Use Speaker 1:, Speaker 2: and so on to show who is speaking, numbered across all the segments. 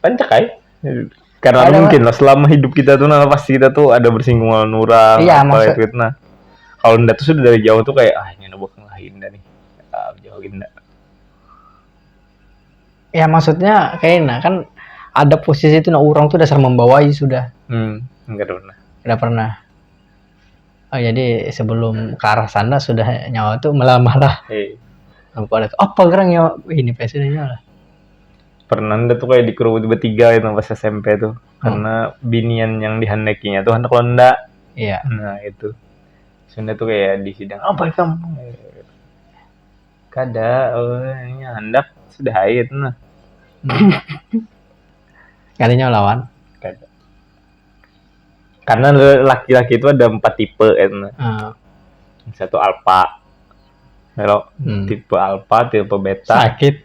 Speaker 1: Pancak ay. Karena Ada- mungkin lah selama hidup kita tuh nah pasti kita tuh ada bersinggung lawan orang Iya, apa maksud- itu nah. Kalau ndak tuh sudah dari jauh tuh kayak ah ini bukan lah indah nih. Ah, jauh indah. Ya maksudnya kayak nah kan ada posisi itu nah orang tuh dasar membawai sudah. Hmm, enggak ada pernah. Udah pernah. Oh, jadi sebelum ke arah sana sudah nyawa tuh melamar lah. Eh, Aku ada apa gerang ya ini presidennya lah. pernah nda tu kaya dikerubuti betiga kaitu nah pas smp tu karna binian yang dihandakinya tu handak lomba Iya. nah itu sunda tu kaya di sidang apa ikam kada eh, handak sudah ai itu nah Kada nyawa lawan. kada karena laki-laki itu ada empat tipe itu nah Ah, satu alpha Hello, Hmm. tipe alpha tipe beta sakit.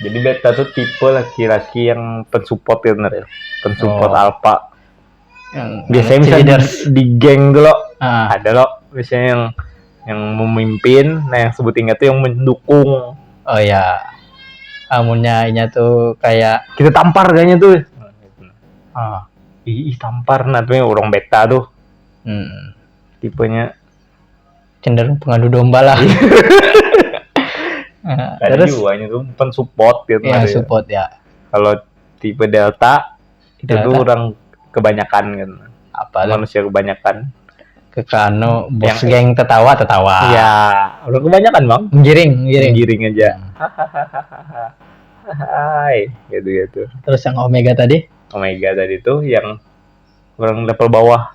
Speaker 1: Jadi beta tuh tipe laki-laki yang pensupport ya bener ya. Pensupport oh. alpha. Yang biasanya bisa di, di geng dulu. Ah. Ada loh biasanya yang yang memimpin, nah yang sebut ingat tuh yang mendukung. Oh ya. Amunnya inya tuh kayak kita tampar kayaknya tuh. Ah. Ih, tampar nah tuh orang beta tuh. Hmm. Tipenya cenderung pengadu domba lah nah, ada terus juga itu pen support gitu ya, ya. support ya kalau tipe delta, delta. itu tuh orang kebanyakan kan apa manusia kebanyakan kekano bos yang geng tertawa tertawa ya orang kebanyakan bang giring giring giring aja hahaha hai gitu gitu terus yang omega tadi omega tadi tuh yang orang level bawah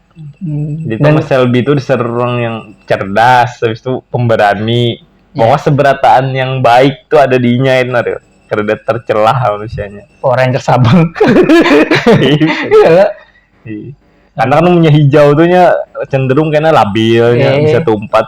Speaker 1: Jadi Dan- Thomas Shelby itu disebut orang yang cerdas, habis itu pemberani. Bahwa seberataan yang baik tuh ada di inya itu Aril. Kada tercelah manusianya. Power Rangers Sabang. Iya lah. Iya. Karena kan umumnya hijau tuh nya cenderung kena labil, nya Eh. bisa tumpat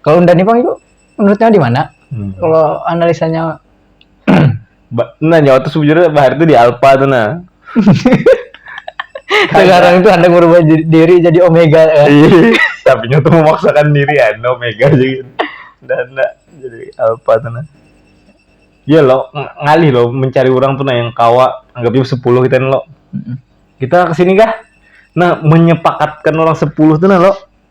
Speaker 1: kalau unda nih bang itu menurutnya di mana hmm. kalau analisanya nah nyawa tuh sebenarnya bahar itu di alpha tuh nah sekarang itu anda merubah diri jadi omega ya iya. tapi nyoto memaksakan diri ya no mega jadi dan jadi apa tuh nah ya lo ngalih lo mencari orang tuh nah yang kawa anggapnya sepuluh kita lo kita kesini kah nah menyepakatkan orang sepuluh tuh nah lo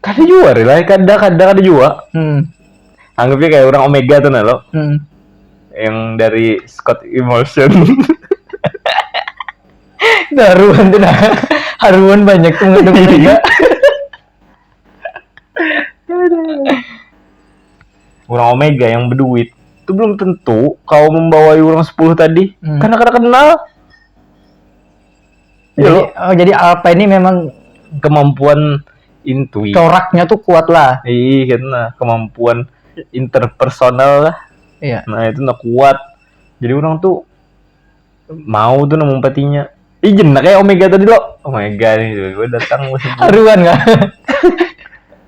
Speaker 1: kada jua rela kada kada kada jua hmm. anggapnya kayak orang omega tuh nah lo hmm. yang dari Scott Emotion nah, haruan tuh nah haruan banyak tuh nggak omega orang omega yang berduit itu belum tentu kau membawa orang 10 tadi hmm. karena kada kenal Jadi, Yo. oh, jadi Alpa ini memang kemampuan intuit coraknya tuh kuat lah iya karena kemampuan interpersonal lah iya nah itu nak kuat jadi orang tuh mau tuh nemu patinya Ih jenak kayak Omega tadi lo Omega nih gue datang haruan gak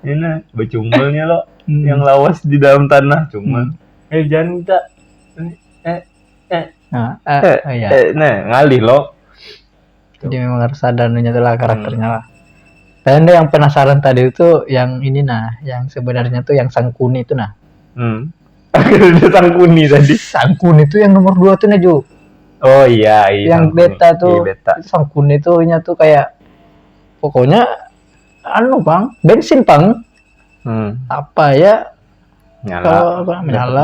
Speaker 1: ini iya, bercumbalnya lo hmm. yang lawas di dalam tanah cuman hmm. eh jangan minta eh, eh eh, nah, eh, eh, eh, iya. eh, nah, ngalih loh jadi memang harus ada nunya lah karakternya hmm. lah dan yang penasaran tadi itu yang ini nah yang sebenarnya tuh yang sangkuni itu nah hmm. sangkuni tadi sangkuni itu yang nomor dua tuh Naju oh iya, iya yang sangkuni. beta tuh iya, beta. sangkuni tuh nya tuh kayak pokoknya anu bang bensin bang hmm. apa ya nyala kalau apa menyala